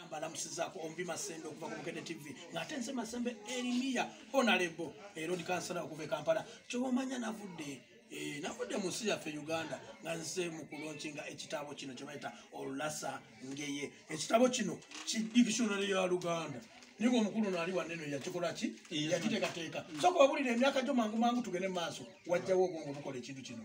mbalamusizaako ombi masembe okuva ku bukede tv ng'ate nze masembe erimiya honalebo era odi kansala okuva e kampala kyoba omanya navudde eh, navudde mu nsi yaffe uganda nga nze mu kulonkinga ekitabo kino kye bayita olulasa ngeye ekitabo kino ki dictionary ya luganda naye omukulu naali waneno yakikola ki yakiteekateeka soka obulira emyaka gyo mangu mangu tugende mu maaso wajjawo obwongo bukola ekintu kino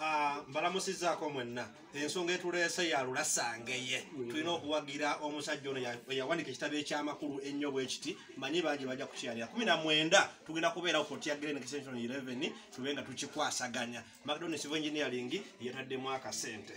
Ah, mbalamusizaako mwenna ensonga etuleese yalulasangeye tulina okuwagira omusajja ono yawanika ekitabo ekyamakulu ennyo bwekiti manyi bangi bajja kukyalira kumi na mwenda tugenda kubeerawo kotya green extension 11 tube nga tukikwasaganya macdonisivo engineering yataddemu akasente